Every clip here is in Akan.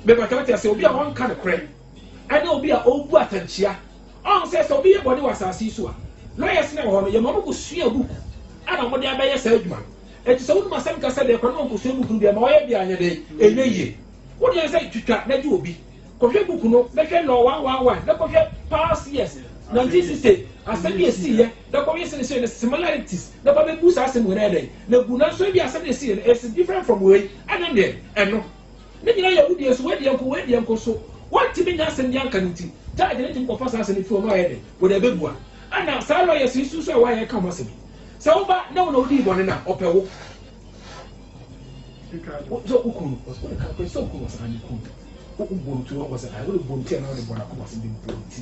Mepatwa wote ase, obi a ɔnka nokorɛ ɛne obi a ɔbu atankyia. Ɔn sɛ sɛ obi yɛ bɔne wɔ asase yi so a, lawyers no a ɛwɔ hɔ no, yɛma ɔmo kɔ sua book ɛna ɔmo de abɛyɛ saa adwuma no. Enti sɛ wonim asɛm kɛse deɛ, kɔ ne wɔnkɔ sua book no bi ɛma ɔyɛ deɛ anyɛ dɛn, ɛnyɛ yie. Wo deɛ sɛ twitwa na gye obi, kɔ hwɛ book no na hwɛ law one one one na kɔ hwɛ past years, 1960 asɛm bi a ɛsiiɛ na kɔ hwɛ seneseɛ no similarities na fa bɛbu saa asɛm wei no ayɛ dɛn na gu. Nanso ebia asɛm no a ɛsiiɛ no is different from wei. Ɛne deɛ, ɛno. Ne nyinaa yɛ awudie so, wei deɛ nko, wei deɛ nko, so wɔntumi nya asɛm bi anka no nti, judge no tumi kɔfa saa asɛm no firi hɔ na wayɛ dɛn? Wɔde abɛbua. Ɛna saa lawyers yi nso nso a wɔayɛ ka ho asɛm yi, sɛ wo ba na wo na wodii bɔne no a, ɔpɛ wo. Wo, sɛ wo kunu no, wode ka, pɛ sɛ wo kunu no, ɔsɛ, ah, me kunu, wo, wobɔ no ti, wabɔ sɛ, ah, wode bɔ no ti anaa wode bɔ no akoma ase, mebɔ no ti.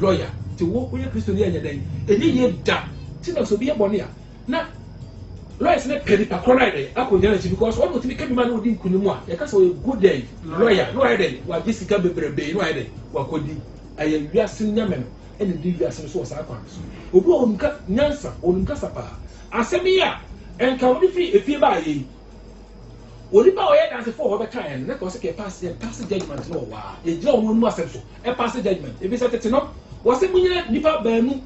Lawyer, nti wo woyɛ Kristoni a ɛnyɛ dɛn? Ɛnyɛ yie da! Nti na sɛ obi yɛ bɔne a na lawyers no pɛ nipa korɔ no ayɛ dɛn? Akɔgyina n'akyi because ɔno na ɔtumi ka bi ma na ɔdi nkunim a yɛka sɛ ɔyɛ good dɛn? Lawyer, na wayɛ dɛn? Wagye sika bebrebee na wayɛ dɛn? Wakɔdi. Ɛyɛ wiase no nyame no na ɛdi wiase no so wɔ saa kwan no so. Obi wɔ hɔ ɔnim ka nyansa, ɔnim kasa pa ara. Asɛm yi a nka wode firi efie baeɛ yi, onipa a ɔyɛ Adansefo wɔ hɔ bɛkaeɛ no na nka ɔse kɛ pass, yɛ pass judgement no wɔ hɔ ara, yɛgyina wɔn anom asɛm so. pass judgement efisɛ tete no wɔsɛ munyina nipa baanu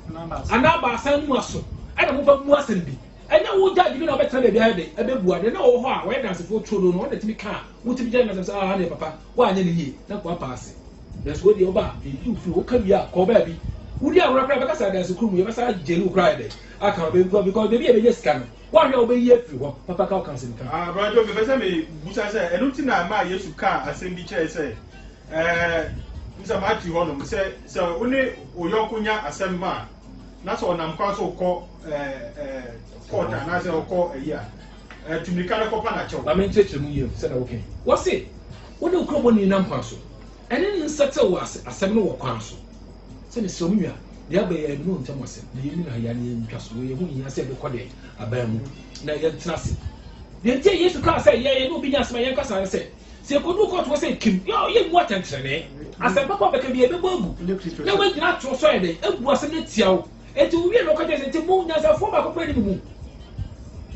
anaa baasa anim aso ɛna mofa mu asɛm bi ɛnyɛ wo judge bi na ɔbɛtena baabi ayɛ de ɛbɛbua deɛ na ɔwɔ hɔ a wɔyɛ dansefoɔ tuo no no ɔna tumi ka a wotumi gyina nasɛm sɛ ah ne papa woanyɛ no yie na kɔ apaase nanso wo deɛ ɔba ɛyi ofiri hɔ ka wie a kɔ baabi wodi ahora koraa bɛka sɛ adanse kuro mu yɛbɛsa gyeli wo koraa ɛdɛ aka wo bɛbi kɔ because baabi a ɛbɛnya sika no woahwɛ a wobɛyi afiri hɔ papa ka wo ka asɛm ka. Ah, Brother Joe, mepɛ sɛ mebusa sɛ ɛno nti na ɛmaa Yesu kaa asɛm bi kyerɛe sɛ Ɛɛ, me sɛ mate hɔnom sɛ sɛ wo ne wo yɔnko nya asɛm ma a, na sɛ ɔnam kwan so kɔ ɛɛ ɛɛ court anaasɛ ɔkɔ ayi a, ɛɛ tu mirika no kɔpa no akyɛw. Ma menkyerɛkyerɛ mu yie sɛdeɛ woka yi. Wɔse wo ne wo kurobɔni nam kwan so, ɛne no nsetsew wɔ ase asɛm no wɔ kwan so. Sɛ mesrɛ wo me nua, deɛ aba yi ɛyɛ nnuro ntam asɛm na yɛnni no ha yi ara na yɛntwa so wei, ɛho nhia sɛ yɛbɛkɔ deɛ aban mu na yɛntena ase. Deɛ nti a Yesu kaa sɛ yɛn ne obi nya asɛm a yɛnkasa ara ne sɛ, Sɛ ekodu kɔɔto hɔ sɛ Kim, yɛ a, yemmu atɛntrenee. Asɛm papa a ɔbɛka biara, yɛbɛbɔ agu, na wagyina atoro so ayɛ dɛn? Abu asɛm no atia wo. Enti owiee no, ɔka kyerɛɛ sɛ, Enti mo, nyansafoɔ baako pɛ ne mo mu.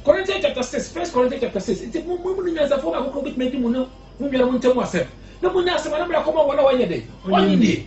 Corinthians chapter six, First Corinthians chapter six, Enti mo, mo mu no nyansafoɔ baako koraa betumi adi mo ne mo nuanom ntam asɛm, na moanya asɛm a na mede akɔma wɔn a wɔnyɛ dɛn? Wɔnnye nnie.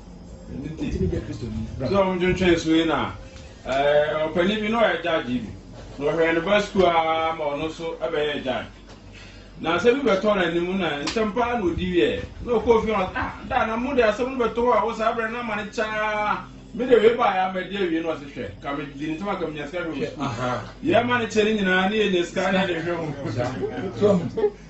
sɛ ɔntwentwɛn so yi na ɔpanin bi na ɔyɛ gyagye bi na ɔhwɛ ne ba sukuu ara ma ɔno nso bɛyɛ gyagye na asɛm bi bɛtɔ n'anim na ntɛm paa na ɔdi wiɛ na ɔkɔ fie na ah da na mo de asɛm no bɛtɔ hɔ a wɔ saa berɛ no ama ne kyaa me de wei baeɛ ama di awie na ɔse hwɛ ka me di ntɛm a ka menya sika hwɛ wɔ sukuu yɛ ma ne kyɛ ne nyinaa ne yɛnya sika ne ade hwɛ ho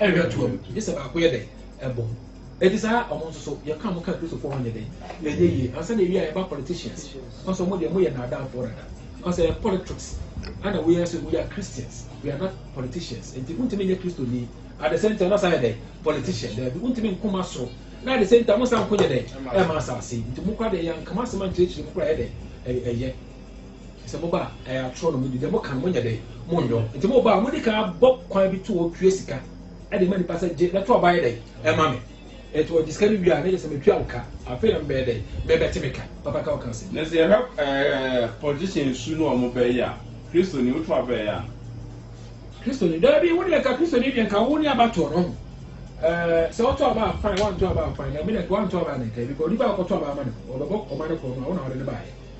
Ɛhwɛ toam, gye sɛ baako yɛ dɛn? Ɛbom. Ɛnti saa ɔmo nso so, yɛ ka ɔmo ka Kristofoɔ ho nyɛ dɛn? Ɛnyɛ yie. Ansa na ɛwie a yɛba politicians, ka sɛ ɔmo deɛ mo yɛ nnaadaafoɔ dada. Ka sɛ ɛyɛ politriks ɛna wo yɛ sɛ we are Christians, we are not politicians. Ɛnti wo ntumi nyɛ Kristoni, at the same time na san yɛ dɛn? Politician. Daabi, wo ntumi nko ma soro, na at the same time wo san nko nyɛ dɛn? Ɛma asaase. Nti mo kora deɛ yɛanka mo asɛm ankyerɛkyerɛ mu kora ɛyɛ dɛn? Ɛyɛ. Sɛ moba a, ɛyɛ atorɔ na modi. Deɛ moka no, monyɛ dɛn? Monyɔ. Enti moba a, modi kan bɔ kwan bi to hɔ tua sika de ma nnipa sɛ, Gye na to aba yɛ dɛn? Ma me. Enti wɔgye sika no wie a, na kyerɛ sɛ metua wo ka. Afei na mobɛyɛ dɛn? Mebɛte me ka. Papa ka wo ka ase. Na sɛ yɛhwɛ politician su no a wɔbɛyɛ yi a, Kristoni, woto aba yɛ anaa? Kristoni, Daabi, wo deɛ nka Kristoni deɛ nka wo ne abatoɔ no. Sɛ woto aba a, fine, woanto aba a, fine. Na me deɛ nka woanto aba a na ɛka yi, because onipa a wokɔto aba ama no, ɔbɛbɔ kɔma no korɔ no a, wo na wode no baeɛ.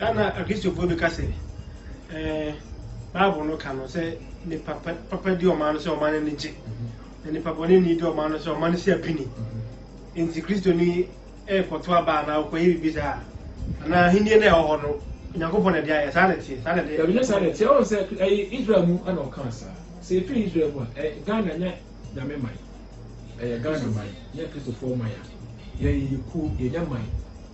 Ana Akristofoɔ bi ka sɛ, Ɛɛ, Bible no ka no sɛ nnipa pa, papa di ɔman no sɛ ɔman no ani gye, na nnipa bɔneni di ɔman no sɛ ɔman no si apini. Enti Kristoni rekɔto aba anaa ɔkɔyɛ biribi saa a, anaa ahenni no a ɛwɔ hɔ no, Onyankopɔn na ɛde ayɛ. Saa na ɛteɛ? Saa na ɛde. Dabi, nyɛ saa na ɛteɛ. Woahu sɛ ɛyɛ Israel mu na ɔkaa saa. Sɛ ɛfiri Israel mu a, ɛ, Ghana nyɛ Nyame man. Ɛyɛ Ghana man, nyɛ Kristofoɔ man a yɛn yɛyɛ kuo, yɛnyɛ man.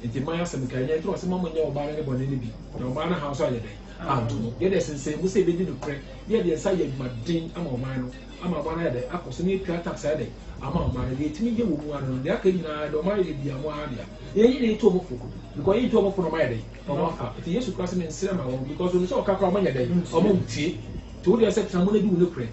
Enti mma yɛn asɛm nka, ɛnyɛ nti na ɔse mma monyɛ ɔbaa no ne bɔne no bi, na ɔbaa no haw nso anyɛ dɛn anto no. Yɛde ɛsensɛn mu sɛ yɛbɛdi nokorɛ, na yɛde yɛn nsa ayɛ adwumaden ama ɔman no, ama ɔman no ayɛ dɛn akɔ so, na yɛtua tax ayɛ dɛn ama ɔman no, deɛ yɛtumi yɛ wɔ mu ara ne no, deɛ aka nyina ara deɛ ɔman no yɛ biara mo ara dea. Yɛnyi ne nto ɔmo fo, because yɛnto ɔmo fo no ɔmo ayɛ dɛn, ɔmo afa, enti Yesu koraa se mensrɛ ma wɔn, because onim sɛ ɔka koraa ɔmo nyɛ dɛn, ɔmo ntie, enti wo deɛ sɛ tena mu na di wo nokorɛ,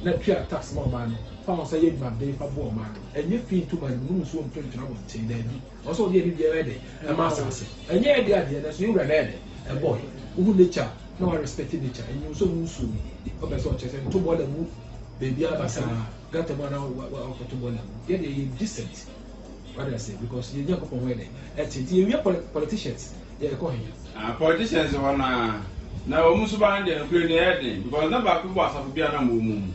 na tua tax ma ɔman no, fa wo nsa yɛ adwumaden fa boa ɔman no, ɛnyɛ fii nto man no mu, nom nsuo nto ntwene abɔnten, daabi. Ɔsɛ ɔde ɛde biara ɛde ɛma asase. Ɛnyɛ yɛ de adeɛ nanso yɛ wura na ɛde ɛbɔ yɛ. Wohu nature a na wa respect nature. Ɛnyɛ wo sɛ ɔmu nsuo mu ɔpɛ sɛ ɔkyerɛ sɛ nto boiler ngu baabiara basaa gutter mu anaa wakɔto boiler ngu. Yɛ deɛ yɛ decent. Wate aseɛ because yɛ Nyankopɔn ho ɛdɛ ɛte nti yɛ wia politicians yɛ ɛkɔ he. Ah politicians hɔ no aa na ɔmu suban deɛ nokorɛ ni ɛyɛ den because na baako bɔ asafo biara na ɔmu ɔmu mu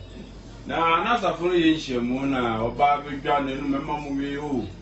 na na asafo no yɛ nhyiamu na ɔba bɛdwa n'anum ɛma mo wee oo.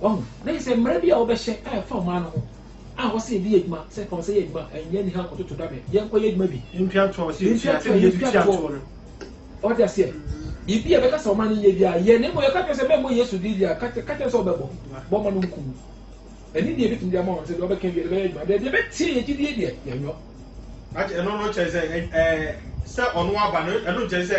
Wahu? Na kyerɛ sɛ, mmara bi a wɔbɛhyɛ a ɛfa mmaa no ho, a wɔse yɛde yɛ adwuma, sɛ fa wo nsa yɛ adwuma, ɛnyɛ aniha nkɔtoto dabɛ, yɛnkɔyɛ adwuma bi, yɛntwatoɔ, wate aseɛ, biribi a ɛbɛka sɛ ɔma no nyɛ biara, yɛ, na mmom yɛka kyerɛ sɛ mɛmmɔ Yesu din deɛ a, ka kyerɛ no sɛ wobɛbɔ, bɔ ma no nku wo. Ɛne deɛ ɛbɛtumi de ama wɔn sɛ deɛ wɔbɛka biara bɛyɛ adwuma, deɛ ɛbɛteɛ yɛn gyidie deɛ, yɛnyɔ. Ɛno no kyerɛ sɛ, sɛ ɔno aba no, ɛno nkyerɛ sɛ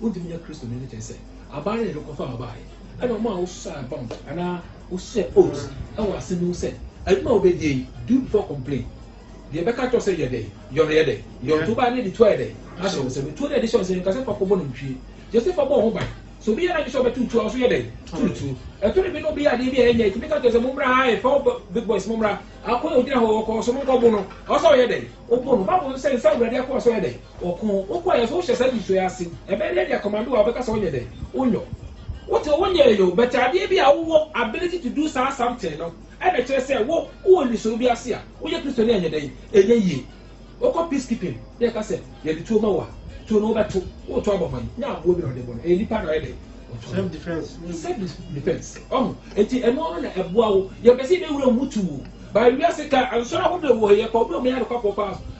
Wontumi nyɛ Kristoni no kyerɛ sɛ aban no na ɛde kɔfaa bae. Ɛna wɔn a wosusuaa bɔmb anaa wosusuaa oath wɔ ase no hu sɛ adwuma a wobedie yi, do before complain, deɛ ɛbɛka akyerɛ wo sɛ yɛ dɛn, yɛ no yɛ dɛn, yɛ ɔtoo bae no de tuo ayɛ dɛn ahyɛ wo nsam. Etuo no a ɛde hyɛ wo nsam yi nka sɛ fa kɔbɔ nantwie. Josefa bɔɔ ho ban. Sɛ obi yɛ n'adwene sɛ ɔbɛtow tuo a, wo nso yɛ dɛn? To no tuo. Ɛtɔ da bi na obi yɛ adeɛ bi a ɛnyɛ, etumi ka kyerɛ sɛ mommra ha, ɛfɛ hɔ big boys mommra, akoa a ogyina hɔ ɔkɔɔ so monkɔbo no, ɔwɔ sɛ ɔyɛ dɛn? Wobo no. Bible nso sɛ nsa a Awurade akoa so yɛ dɛn? Ɔko, wokɔ yɛ so wohyɛ saa nniso yi ase, ɛbɛyɛ dɛn de akɔma bi wɔ a wobɛka sɛ wonyɛ dɛn? Wonyɔ. Wote wo nyɛe yo, but adeɛ bi a wowɔ ability to do saa something no na ɛkyerɛ sɛ wo wowɔ nniso bi ase a woyɛ Kristoni a ɛnyɛ dɛn? Ɛnyɛ yie. Wokɔ peace keeping na yɛka sɛ yɛde tuo ma wo a, tuo no wobɛto, woreto abɔ hwan? Nyɛ aboa bi na ɔde bɔ no, ɛyɛ nnipa na ɔyɛ dɛn? Ɔto no. Self defense. Ɔho, enti ɛno ano na ɛboa wo. Yɛmpɛ sɛ yɛbɛwura wo mu tuu. By wiase ka, nsɔre ahodoɔ wɔ ha yi, yɛkɔ, wobɛhu yɛ anokwafɔɔ paa.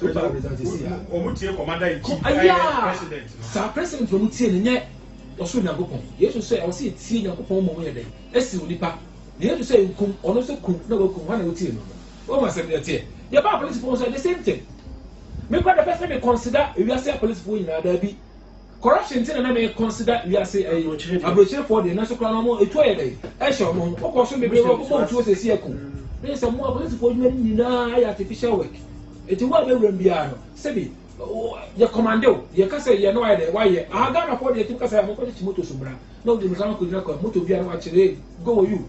wɔtie kɔma da nti ɛyɛ president no saa president na wɔtie no nyɛ ɔsoro nyankopɔn yesu sɛ ɛwɔ sɛ yɛtie nyankopɔn mmom yɛ dɛn ɛsi onipa na yesu sɛ nkum ɔno nso kum na wakum hɔ na wɔtie no no wɔma asɛm no ɛteɛ yɛbaa polisifoɔ nso the same thing mekɔ da pɛ sɛ me consider ewiase apolisifoɔ nyinaa daabi Corruption nti na na me consider wiase ɛyi abrokyire foɔ deɛ nanso koraa no ɔmo etuo yɛ dɛn ɛhyɛ ɔmo ho ɔkɔ so bebree wɔ ɔbɛbɔ ntuo sɛ esi ɛko ne sɛ mo apolisi foɔ adwuma no nyinaa ayɛ artificial work eti wo a bɛwura mu biara no sɛbi yɛ kɔmande o yɛ kasa yɛ no ayɛ dɛ wayɛ aha Ghana foɔ deɛ tumi kasa yɛ ɔmo kɔkye kyi moto so bra na odi mika no kɔ gyina kwan moto biara wakyerɛ go wɔ you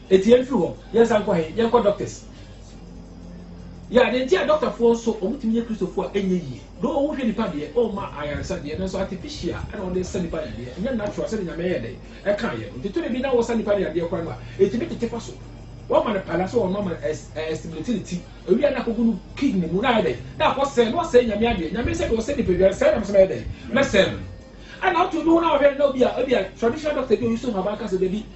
Eti yɛn firi hɔ yɛn san kɔ he? Yɛn kɔ doctors. Yɛ adeɛ nti a doctor foɔ nso wɔn tumi yɛ Kristofoɔ a ɛnyɛ yie. Though wo hwɛ nipa deɛ wo ma ayaresa deɛ nanso artificial ɛna wɔde sa nipa yadeɛ ɛnyɛ natural sɛdeɛ Nyame yɛ dɛn ɛkaa yɛ no nti tore bi na wo sa nipa no yadeɛ koraa no a ɛtumi tete fa so wo ama no pala sɛ wɔn ama no ɛs ɛstimulate ne ti awia na akɔgu no kidney mu na ayɛ dɛn na akɔ sɛɛ na wasɛɛ Nyame adeɛ Nyame sɛdeɛ ɔsɛ nipa biara sɛɛ na mesɛ mɛyɛ dɛn mɛsɛɛ no ɛna woto bi ho na wɔhwɛ no na obi a ebi a traditional doctor bi a ɔyi so nhaban ka sɛ dabi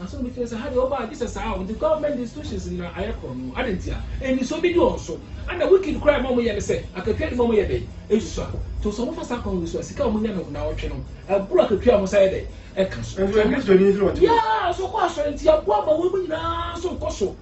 Asɛm no bɛtumi ayɛ sɛ, ha deɛ wɔbaa gye sɛ saa a wɔde government institutions nyinaa ayɛ korɔ no, adɛn nti a anisoɔ bɛdi wɔn so? Ana wicked koraa a ɛma wɔyɛ ne sɛ, akatua de ma wɔyɛ dɛn? Ɛnsusu a, to sɛ wɔfa saa kwan wei so a, sika a wɔnya no nnawɔtwe no, ɛboro akatua a wɔsan yɛ dɛn? Ɛka so. Ɛnso, anisoɔ no nti na wɔte hɔ. Yaa, sɛ wɔkɔ asɔre nti, aboa ma wɔn mu nyinaa nso rekɔ so.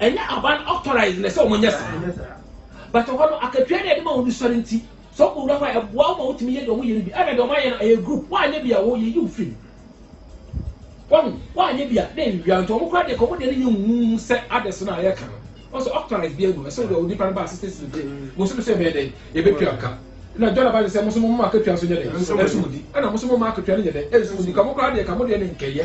Ɛnyɛ aban authorise na ɛsɛ wɔn nyɛ saa. But hɔ no akatua na yɛde ma wɔn no sɔre nti sɛ wɔkɔ wura hɔ a ɛboa wɔn ma wɔtumi yɛ deɛ wɔn yɛ no bi. Ɛna deɛ wɔn ayɛ no ɛyɛ group wɔanyɛ bi a wɔ yɛyi wo firi mu. Wɔn wɔanyɛ bi a na ɛnwia nti wɔn koraa deɛ ka wɔn deɛ no nyɛ huuhu sɛ others no a yɛka no. Wɔn sɛ authorise bi anu ɛsɛ wɔde onipa no ba assistance no gye mo nso no sɛ ɛbɛyɛ dɛn yɛbɛtua ka. Ɛna John Abba sɛ mo nso mo mma akatua nso nyɛ dɛn ɛnso mo di. Ɛna mo nso mo mma akatua no nyɛ dɛn ɛnso mo di. Ka mo koraa deɛ ka mo deɛ no nkɛyɛ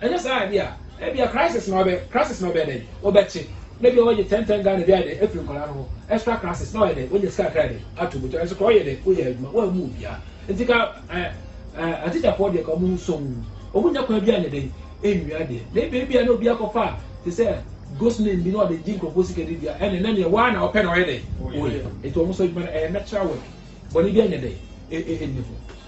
Anyɛ saa a ɛde a, ebia crisis na ɔbɛ crisis na ɔbɛyɛ dɛn? Ɔbɛkye. Na ebia wɔgye ten ten Ghana bi ayɛ dɛn? Afiri nkwadaa no hɔ. Extra classes na ɔyɛ dɛn? Wɔnya sika kakra ayɛ dɛn? Ato bɔtɔ. Nanso koraa ɔyɛ dɛn? Ɔyɛ adwuma. Wɔammu obiara. Nti ka ɛ ɛ atikyafoɔ deɛ ka wɔn ho sɔnn. Wɔnya kwan bi anyɛ dɛn? Ɛnwia adeɛ. Na ebia ebia na obi akɔfa te sɛ ghost name bi na ɔde gye nkurɔfoɔ sika de dua. Ɛnna ɛnna nea waa na ɔpɛ na ɔyɛ dɛn? Ɔyɛ. Nti wɔn nso adwuma no ɛyɛ natural work. Bɔne bi anyɛ dɛn? Ɛ ɛ ɛnni ho.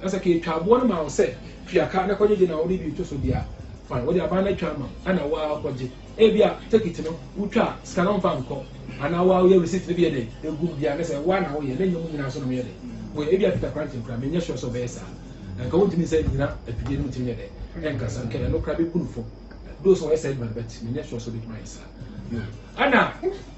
Na sɛ ketwa aboɔ no ma wo sɛ tua ka na kɔgyegye na wode bi reto so deɛ a, fine, wɔde aban no atwa ama wo ɛna wo ara kɔgye. Ebia tekit no wotwa a sika no mfa nkɔ anaa wo ara woyɛ receipt no bi yɛ dɛn ɛgu mu biara ne sɛ wo ara na woyɛ na ɛnyɛ mo nyinaa nso na moyɛ dɛn moyɛ. Ebia Peter Kranchen koraa menyɛ sure sɛ ɔbɛyɛ saa. Anka wontumi nsa nnyina afidie no mu ntumi nyɛ dɛn ɛnkasa. Anka ɛno koraa bɛbu no fɔ though sɛ ɔyɛ saa adwuma no but menyɛ sure sɛ ɔbɛtumi ayɛ saa. Ɛna.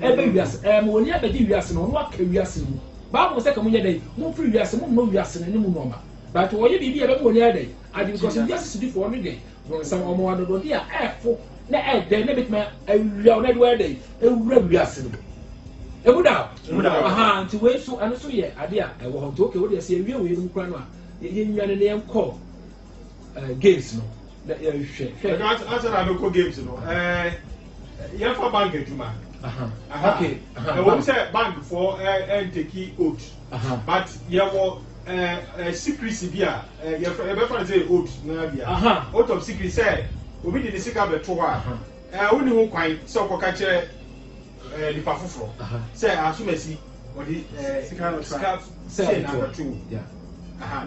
Ɛreba wiase, ɛɛ, ma wɔn ani abɛgye wiase na wɔn aka wiase no mu. Bible sɛ, Ka mo nyɛ dɛn? Momfiri wiase, monnɔ wiase no ne mu nnoɔma. But wɔyɛ biribi a ɛbɛma wɔn ani ayɛ dɛn? Agye because wiase sodifoɔ ne dɛn? Bronsam. Wɔma wɔn adɔdɔdeɛ a ɛɛfo na ɛyɛ dɛ na ɛbɛtumi awia wɔn na ɛde wɔn ayɛ dɛn? Awura wiase no mu. Ɛmu da hɔ? Ɛmu da hɔ. Ahaa, nti wei nso, ɛno nso yɛ adeɛ a ɛwɔ hɔ. Nti okay, wodeɛ sɛ yɛwie wei nom koraa no a, yɛnwane na yɛnkɔ. ɛɛ games no na yɛhwɛ hwɛ. ɛka asa na abɛkɔ games no ɛɛ yɛfa bank adwuma. okay ɛwɔ mu sɛ bank fɔ ɛɛ ɛntɛki oath but yɛwɔ ɛɛ ɛɛ secrecy bi a ɛɛ yɛfɛ yɛbɛfa ne sɛ oath naa bi a oath of secrecy sɛ obi de ne sika bɛto hɔ a ɛɛ wonni ho kwan sɛ ɔkɔka kyerɛ. eh, nipa foforɔ sɛ asomasi ɔde eh, sika no tra sɛ na abɛto wo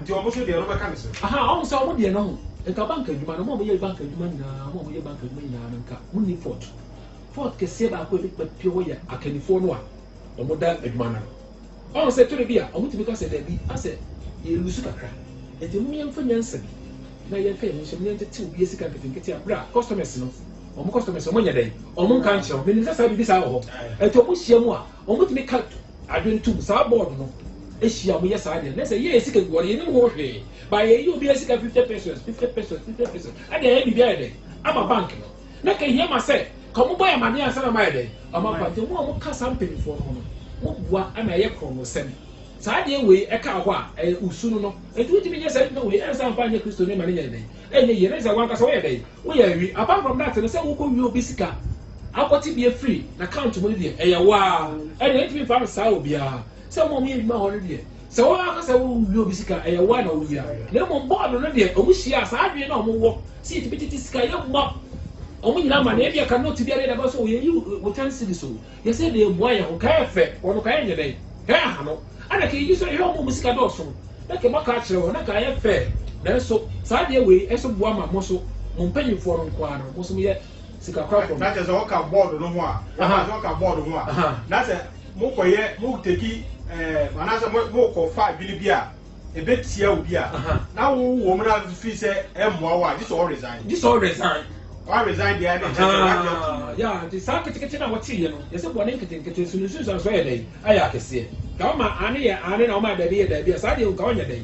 nti ɔmo so deɛ no bɛka ne so ɔmo sɛ ɔmo deɛ no ho nka bank adwuma no ɔmo a wɔyɛ bank adwuma nyinaa ɔmo a wɔyɛ bank adwuma nyinaa no nka mo ni fort fort kɛseɛ baako a ebi pɛ pɛ wɔ yɛ akannifoɔ no a wɔn da adwuma no ano. Ɔn sɛ tɔda bi a ɔmo tumi ka sɛ dabi asɛ yɛ lusu kakra nti mom yɛnfa nyansa bi na yɛnka yɛn ho nhyɛm na yɛntete obi asika nketenkete a bere a customers no ɔmo customers no ɔmo nyɛ dɛn ɔmo nka nkyerɛ wo menim sɛ saa biribi saa wɔ hɔ nti ɔmo hyia mu a ɔmo tumi ka adwene tum saa board no hyia ɔmo yɛ saa deɛ na sɛ yɛyɛ sika guɔ no yɛnim ho hwee ba yɛyɛ obi asika 50 pesos 50 pesos 50 pesos ɛde ayɛ biribi ayɛ dɛn ama bank no Na ɛka hia ma sɛ ka ɔmo bɔ yɛn amaneɛ ansa na ɔmo ayɛ dɛn? Ɔmo aba. Nti mo a mo ka saa mpanyinfoɔ no ho no, mo boa ma ɛyɛ korɔnosɛm. Saa adeɛ wei ɛka hɔ a, ɛyɛ osunu no. Nti wotumi nyɛ saa nipa wei ansa amfa anyɛ Kristo ni ma no nyɛ dɛn? Ɛnyɛ yie. Na kyerɛ sɛ wankasa woyɛ dɛn? Woyɛ awi. Apart from that no, sɛ wokɔ wi obi sika, akɔ te bi afiri n'account mu no deɛ, ɛyɛ wo ara. Ɛdeɛ yɛntumi mfa no saa wɔ biara. Sɛ mo a mo yɛ adwuma hɔ no deɛ, Sɛ wo ara ka sɛ worenhia obi sika a, ɛyɛ wo ara na woyɛ adeɛ. Na mmom bɔɔdo no deɛ, wɔhyiaa saa adwene no a wɔwɔ sɛ yɛtumi tete sika a yɛmmɔ wɔn nyinaa ma no. Ebia ka note bi a na yɛde aba so, Yɛyi wo ten cedis o, yɛ sɛ na ɛmmoa yɛn ho. Ka ɛyɛ fɛ, wɔn no, ka ɛnyɛ dɛn? Ka ɛyɛ ahanu. Ɛnna ka yɛyi so hwɛ wɔn a wɔn sika dɔɔso no, na ka moaka akyerɛ wɔn, na ka ɛyɛ fɛ. Nanso saa adeɛ wei nso boa ma mo nso, mo mpanimfoɔ no nko ara no, mo nso moyɛ. sikakorafo no. Na kyerɛ sɛ ɔka bɔɔd no ho a, wɔka sɛ ɔka bɔɔd ho a, na sɛ mokɔyɛ moteki ɛɛ anaasɛ mokɔfa adwene bi a ɛbɛtia obi a, na wowɔ mu na fi sɛ ɛmmoa wo a, gye sɛ ɔ resign. Gye sɛ ɔ resign. Ɔ resign deɛ ɛne kyerɛ sɛ wagye atom no. Ya nti saa ketekete no a wɔteeɛ no, yɛsɛ bɔne nketenkete nso no nsunsuansoɔ yɛ dɛn? Ayɛ akɛseɛ. Nka wɔma aane yɛ aane na wɔma daabi yɛ daabi a, saa deɛ nka ɔnyɛ dɛn?